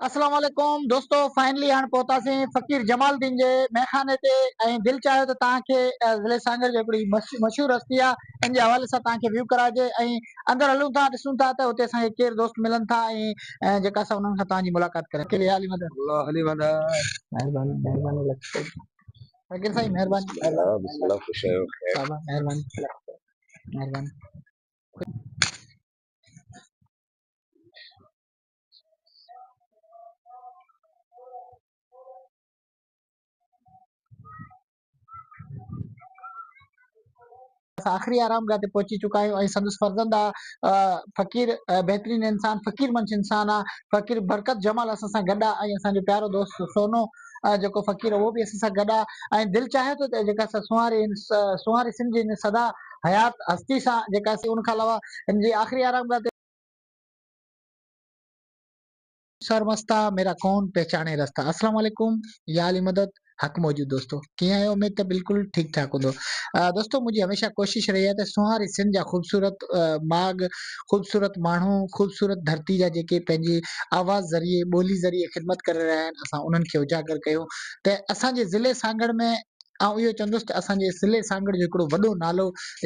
اسلام عليڪم دوستو فائنلي هاڻ پهتاسين فقير جمال الدين جي ميخاني تي ۽ دل چاهيو ته توهان کي ضلعي سانگهڙ جي هڪڙي مشهور هستي آ ان جي حوالي سان توهان کي ويو ڪراجي ۽ اندر هلون ٿا ڏسون ٿا ته اتي اسان کي ڪير دوست ملن ٿا ۽ جيڪا اسان انهن سان توهان جي ملاقات ڪريون ٿا ڪلي علي مدد الله علي مدد مهرباني مهرباني لک فقير سائين مهرباني الله بسم الله خوش آيو خير مهرباني مهرباني اسان آخري آرام گاهه تي پهچي چڪا آهيون ۽ سندس فرزند آ فقير بهترين انسان فقير منش انسان آ فقير برڪت جمال اسان سان گڏ آ ۽ اسان جو پيارو دوست سونو جيڪو فقير اهو به اسان سان گڏ آ ۽ دل چاهي ٿو ته جيڪا اسان سونهاري سونهاري سنڌ جي سدا حيات هستي سان جيڪا ان کان علاوه هن جي آخري آرام گاهه تي سر مستا ميرا ڪون پهچاڻي رستا اسلام عليڪم يا علي مدد حق موجود دوستو ڪيئن آهيو اميد ته بلڪل ٺيڪ ٺاڪ هوندو دوستو منهنجي هميشه ڪوشش رهي آهي ته سونهاري سنڌ جا خوبصورت ماڳ خوبصورت ماڻهو خوبصورت ڌرتي جا جيڪي پنهنجي آواز ذريعي ٻولي ذريعي خدمت ڪري رهيا آهن اسان انهن کي اجاگر ڪيون ته اسان جي ضلعي سانگهڙ ۾ آئون اهو چوندس ته اسان جي سلي سانگهڙ جو هڪڙو وڏو نالو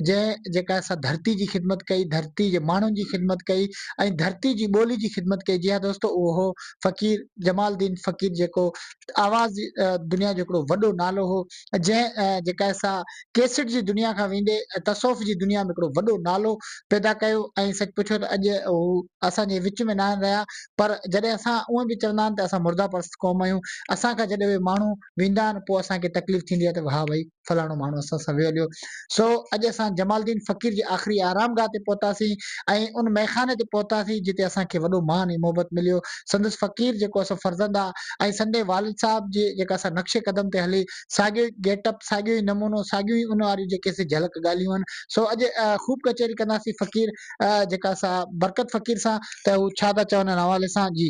جنهن جيڪا سا ڌرتي جي خدمت ڪئي، ڌرتي جي ماڻهن جي خدمت ڪئي ۽ ڌرتي جي ٻولي جي خدمت ڪئي، جي ها دوستو اهو هو فقير جمال الدين فقير جيڪو آواز دنيا جو هڪڙو وڏو نالو هو جنهن جيڪا سا ڪيسٽ جي دنيا کان ويندي تصوف جي دنيا ۾ هڪڙو وڏو نالو پيدا ڪيو ۽ سچ پڇو ته اڄ هو اسان جي وچ ۾ ناهن رهيا پر جڏهن اسان اهو به چوندا آهن ته اسان مرده پرست قوم آهيون اسان کان جڏهن اهي ماڻهو ويندا آهن پوء اسان کي تڪليف ٿيندي آهي ته واه ڀئي فلاڻو ماڻهو اسان سان ويو هليو سو اڄ اسان جمال الدين فقير جي آخري آرام گاهه تي پهتاسين ۽ ان مئخاني تي پهتاسين جتي اسان کي وڏو مان ۽ محبت مليو سندس فقير جيڪو اسان فرزند آهي ۽ سندي والد صاحب جي جيڪا اسان نقش قدم تي هلي ساڳيو ئي گيٽ اپ ساڳيو ئي نمونو ساڳيون ئي ان واريون جيڪي سي جهلڪ ڳالهيون آهن سو اڄ خوب ڪچهري ڪنداسين فقير جيڪا اسان برڪت فقير سان ته هو ڇا ٿا چون ان حوالي سان جي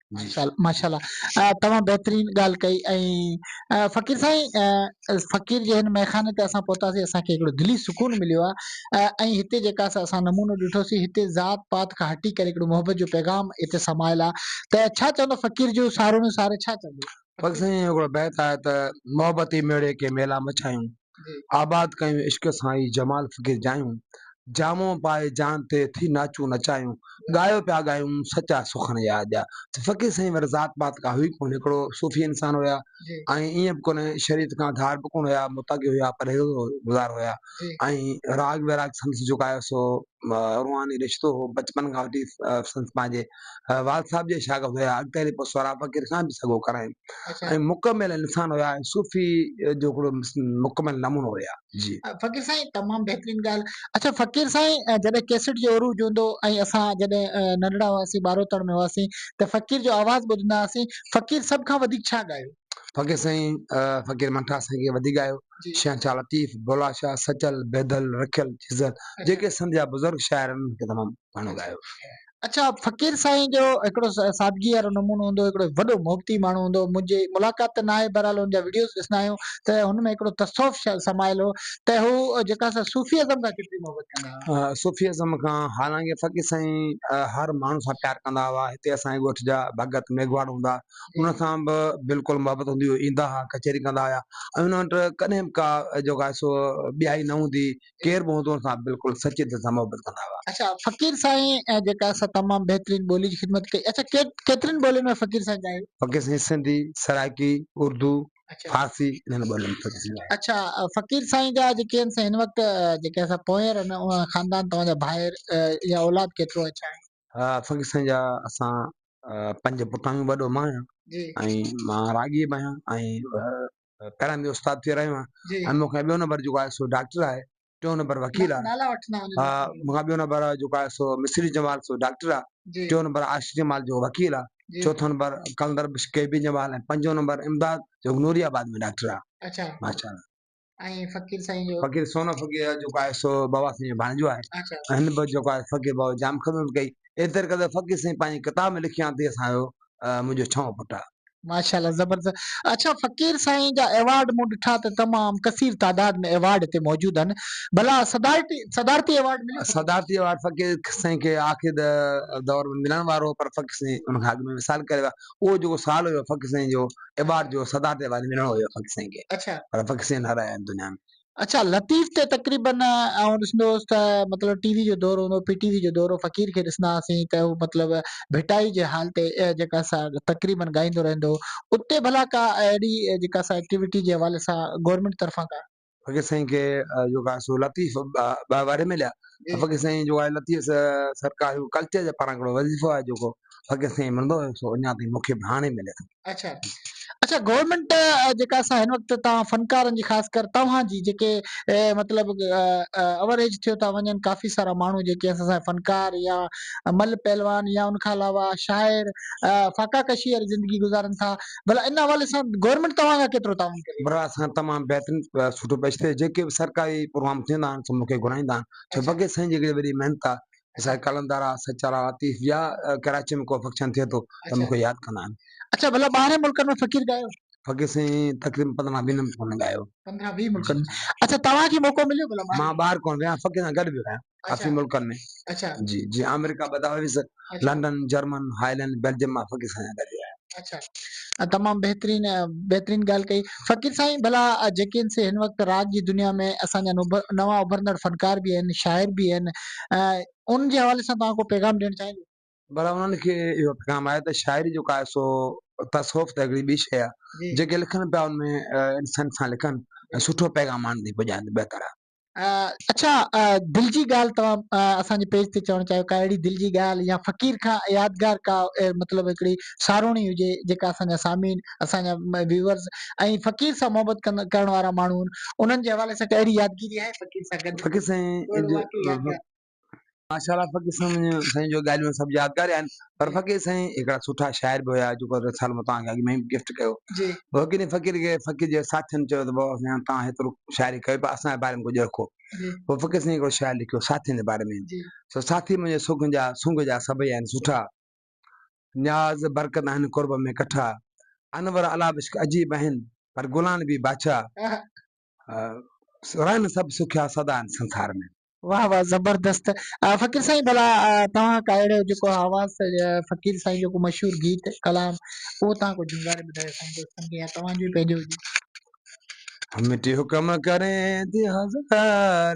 ماشاء الله تمام بهترين ڳالهه ڪئي ۽ فقير سائين فقير جي هن مئخاني تي اسان پهتاسين اسان کي هڪڙو دلي سڪون مليو آهي ۽ هتي جيڪا اسان نمونو ڏٺوسي هتي ذات پات کان هٽي ڪري هڪڙو محبت جو پيغام هتي سمايل آهي ته ڇا چوندو فقير جو سارو ۾ ساري ڇا چوندو فقير سائين هڪڙو بيت آهي ته محبت ئي ميڙي ڪي ميلا مچايون آباد ڪيون عشق سان ئي جمال فقير جايون، جامو پائي جان تي ٿي ناچون نچايون، ڳايو پيا ڳايون سچا سخن يار جا. فقير سائين وري ذات پات ڪا هئي ڪونه هڪڙو صوفي انسان هيا ۽ ايئن به ڪونه شريعت کان ڌار به ڪونه هيا متقي هيا پرهيزگار هيا ۽ راڳ ويراڳ سندس جيڪو آهي سو روحاني رشتو هو. بچپن کان وٺي سندس پنهنجي والد صاحب جا شاگرد هيا. اڳتي هلي پوء سهراب فقير کان به سڳو ڪرايم ۽ مڪمل انسان هيا ۽ صوفي جو هڪڙو مڪمل نمونو هيا. جي. فقير سائين تمام بهترين ڳالهه. اڇا فقير سائين جڏهن ڪيسٽ جو عروج هوندو ۽ اسان جڏهن ننڍڙا هئاسين ٻاروتڻ ۾ هئاسين ته فقير جو آواز ٻڌندا هئاسين فقير سڀ کان وڌيڪ ڇا ڳايو؟ فقير سائين فقير منٺا سائين کي وڌيڪ ڳايو شهنشاهه شاهه لطيف، بولا شاهه، سچل، بيدل، رکيل، جزل جيڪي سنڌ جا بزرگ شاعر آهن انهن کي تمام گهڻو ڳايو. اڇا فقير سائين جو هڪڙو سادگي وارو نمونو هوندو هڪڙو وڏو محبتي ماڻهو هوندو هو منهنجي ملاقات ته ناهي بهرحال هن جا وڊيوز ڏسندا آهيون ته هن ۾ هڪڙو تصوف شايد سمايل هو ته هو جيڪا سا صوفي ازم کان ڪيتري محبت ڪندا هئا. صوفي ازم کان حالانڪه فقير سائين هر ماڻهو سان پيار ڪندا هئا هتي اسان جي ڳوٺ جا ڀڳت ميگهواڙ هوندا انهن سان به بلڪل محبت هوندي هئي، ايندا ها، ڪچهري ڪندا هيا ۽ انهن وٽ ڪڏهن به ڪا جيڪو آهي سو ٻيائي نه هوندي هئي، ڪير به هوندو انهن سان بلڪل سچي دل سان محبت ڪندا هئا. اچا فقير سائين جيڪا آهي سا تمام بهترين ٻولي جي خدمت ڪئي، اچا ڪيترين ٻولين ۾ فقير سائين ڳايو؟ فقير سائين سنڌي، سرائيڪي، اردو، فارسي انهن ٻولين ۾ فقير سائين ڳايو. اچا فقير سائين جا جيڪي آهن سا هن وقت جيڪي آهي سا پونئير آهن، خاندان توهان جا ڀائر يا اولاد ڪيترو آهي ڇا آهي؟ ها فقير سائين جا اسان پنج پٽ آهيون وڏو مان آهيان ۽ مان راڳي به آهيان ۽ پهريان به استاد ٿي رهيو آهيان ۽ مون کان ٻيو نمبر جيڪو آهي سو ڊاڪٽر آهي ٽيون نمبر وڪيل آهي مون کان ٻيو نمبر جيڪو آهي سو مصري جمال سو ڊاڪٽر آهي ٽيون نمبر عاشق جمال جو وڪيل آهي چوٿون نمبر قلندر بش ڪي بي جمال ۽ پنجون نمبر امداد جو نوري آباد ۾ ڊاڪٽر آهي اچا ماشاء الله ۽ فقير سائين جو فقير سونو فقير جيڪو آهي سو بابا سائين جو ڀانيجو آهي اچا هن به جيڪو آهي فقير بابا جام خدمت ڪئي ايتري قدر فقير سائين پنهنجي ڪتاب ۾ لکيان ته اسان جو آ، منهنجو ڇهون پٽ آ ماشاءالله زبردست اچا فقير سائين جا ايوارڊ مون ڏٺا ته تمام ڪثير تعداد ۾ ايوارڊ هتي موجود آهن ڀلا صدارتي صدارتي ايوارڊ مليو صدارتي ايوارڊ فقير سائين کي آخري د- دور ۾ ملڻ وارو هو پر فقير سائين ان کان اڳ ۾ وصال ڪري ويا اهو جيڪو سال هيو فقير سائين جو ايوارڊ جو صدارت ايوارڊ ملڻو هيو فقير سائين کي اڇا پر فقير سائين هارايا آهن دنيا ۾. اڇا لطيف تي تقريبن آئون ڏسندو هوس ته مطلب ٽي وي جو دور هوندو پي ٽي وي جو دور فقير کي ڏسندا هئاسين ته هو مطلب ڀٽائي جي هال تي جيڪا سا تقريبن ڳائيندو رهندو هو اتي ڀلا ڪا اهڙي جيڪا سا ايڪٽيوٽي جي حوالي سان گورمينٽ طرفان ڪا فقير سائين کي جو ڪا سو لطيف ٻه واري مليا فقير سائين جو آهي لطيف سرڪار جو ڪلچر جي پاران ڪھڙو وظيفو آهي جو ڪو فقير سائين ملندو هيو سو اڃا تائين مونکي به هاڻي ملي ٿو اچا اچا گورنمينٽ جيڪا اسان هن وقت تان فنڪارن جي خاص ڪر توهان جي جيڪي مطلب اوريج ٿيو ٿا وڃن ڪافي سارا ماڻهو جيڪي اسان فنڪار يا مل پهلوان يا ان کان علاوه شاعر فاڪا ڪشي واري زندگي گذارن ٿا ڀلا ان حوالي سان گورنمينٽ توهان سان ڪيترو تعاون ڪري؟ برا اسان تمام بهترين سٺو پيش ٿئي جيڪي به سرڪاري پروگرام ٿيندا آهن سو مون کي گهرائيندا آهن ڇو اچا. بگي سائين جي هڪڙي وڏي محنت آهي اسان قلندر آهي سچارا لطيف يا ڪراچي ۾ ڪو فنڪشن ٿئي ٿو ته اچا مون کي ياد ڪندا آهن. اچا ڀلا ٻاهرين ملڪن ۾ فقير ڳايو؟ فقير سائين تقريبن پندرهن ويهه ملڪن ۾ ڳايو. پندرهن ويهه ملڪن ۾ اچا توهان کي موقعو مليو ڀلا ٻاهر مان وڃڻ جو؟ ٻاهر ڪونه ويو آهيان فقير سان گڏ به ويو آهيان. اچا ڪافي ملڪن ۾ اچا جي جي آمريڪا ٻڌا هئس اچا لنڊن جرمن هائلينڊ بيلجيم مان فقير سائين جا ڳالهيا اچا ۽ تمام بهترين ۽ بهترين ڳالهه ڪئي فقير سائين ڀلا جيڪي ان سي هن وقت راڳ جي دنيا ۾ اسان جا نوڀ- نوان اڀرندڙ فنڪار به آهن شاعر به آهن ۽ ان جي حوالي سان توهان ڪو پيغام ڏيڻ چاهيندو ڀلا انهن کي اهو پيغام آهي ته شاعري جيڪو آهي سو تصوف ته هڪڙي ٻي شيء آهي جي جيڪي لکن پيا ان ۾ آه، انسان سان لکن ۽ سٺو پيغام آڻن ٿي پڄائن ته بهتر آهي اڇا دل جي ڳالهه توهان اسان جي پيج تي چوڻ چاهيو ڪا اهڙي دل جي ڳالهه يا فقير کان يادگار ڪا مطلب هڪڙي ساروڻي هجي جيڪا اسان جا سامعين اسان جا ويورز ۽ فقير سان محبت ڪرڻ وارا ماڻهو انهن جي حوالي سان ڪا اهڙي يادگيري آهي فقير سان گڏ فقير سائين ماشاءالله فقير سائين سائين جو ڳالهيون سڀ يادگار آهن پر فقير سائين هڪڙا سٺا شاعر به هيا جيڪو رسالو مون توهان کي اڳ ۾ ئي گفٽ ڪيو جي وڪيل فقير کي فقير جي ساٿين چيو ته بابا سائين توهان هيترو شاعري ڪيو پر اسان جي باري ۾ ڪجهه رکو جي پوء فقير سائين هڪڙو شعر لکيو ساٿين جي باري ۾ جي سو ساٿي منهنجي سگهه جا سونگ جا سڀئي آهن سٺا نياز برڪت آهن قرب ۾ ڪٺا انور علابشڪ عجيب آهن پر گلان به بادشاهه رهن سڀ سکيا سدا ان سنسار ۾. واه واه زبردست فقير سائين ڀلا توهان ڪا اهڙو جيڪو حواس فقير سائين جو ڪو مشهور گيت ڪلام اهو توهان ڪو جهونگاري ٻڌايو سائين دوستن کي يا توهان جو ئي پنهنجو هجي. مٽي حڪم ڪرين ٿي هزار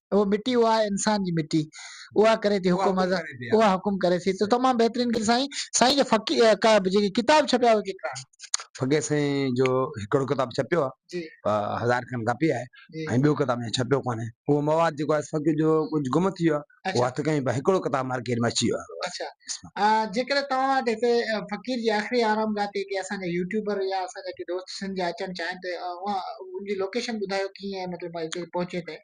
اهو مٽي اها آهي انسان جي مٽي اها ڪري ٿي حڪم اها حڪم ڪري ٿي، اها حڪم ڪري ٿي ته تمام بهترين ڪي سائين سائين جا فقي ڪا جيڪي ڪتاب ڇپيا اهي ڪيترا آهن. فقير سائين جو هڪڙو ڪتاب ڇپيو آهي جي هزار کن ڪاپي آهي جي ۽ ٻيو ڪتاب اڃا ڇپيو ڪانهي اهو مواد جيڪو آهي فقير جو ڪجهه گم ٿي ويو آهي اهو اڇا هٿ ڪيائين پر هڪڙو ڪتاب مارڪيٽ ۾ اچي ويو آهي اڇا اسما آ جيڪڏهن توهان وٽ هتي فقير جي آخري آرام گاهه تي ڪي اسان جا يوٽيوبر يا اسان جا ڪي دوست سنڌ جا اچڻ چاهين ته اوهان ان جي لوڪيشن ٻڌايو ڪيئن مطلب اتي پهچي ته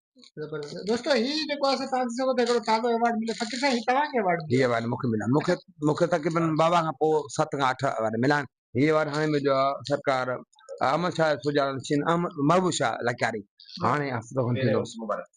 دوستو هي جيڪو اسان تان ڏسو ته هڪڙو تازو ايوارڊ مليو فقير سائين هي توهان کي ايوارڊ مليو هي ايوارڊ مونکي مليو مونکي مونکي تقريبن بابا کان پوء ست کان اٺ ايوارڊ مليا آهن هي ايوارڊ هاڻي مليو آهي سرڪار احمد شاهه سجاڻ نشين احمد محبوب شاهه لڪاري هاڻي هفتو کن ٿي ويو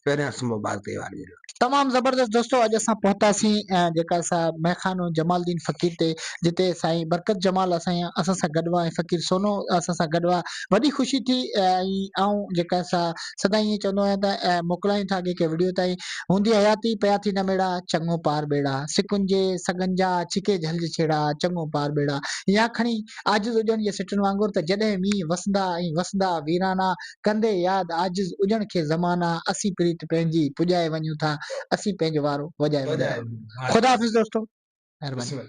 پهرين هفت مبارڪ تي ايوارڊ مليو تمام زبردست دوستو اڄ اسان پهتاسين جيڪا سا ميخانو جمال الدين فقير تي جتي سائين برڪت جمال اسان اسان سان گڏ هئا ۽ فقير سونو اسان سان گڏ هئا وڏي خوشي ٿي ۽ آئون جيڪا سا سدا ائين چوندو آهيان ته اي موڪلائين ٿا اڳي ڪنهن وڙهيو تائين هوندي حياتي پيا ٿي نه ميڙا چڱو پار ٻيڙا سڪن جي سڳن جا ڇڪي جهلج ڇيڙا چڱو پار ٻيڙا يا کڻي عاجز اجڻ جي سٽن وانگر ته جڏهن مينهن وسندا ۽ وسندا ويرانا ڪندي ياد عاجز اجڻ کي زمانا اسين پريت پنهنجي پڄائي وڃون ٿا اسين پنهنجو وارو وڄائي وڃون ٿا خدا حافظ دوستو مهرباني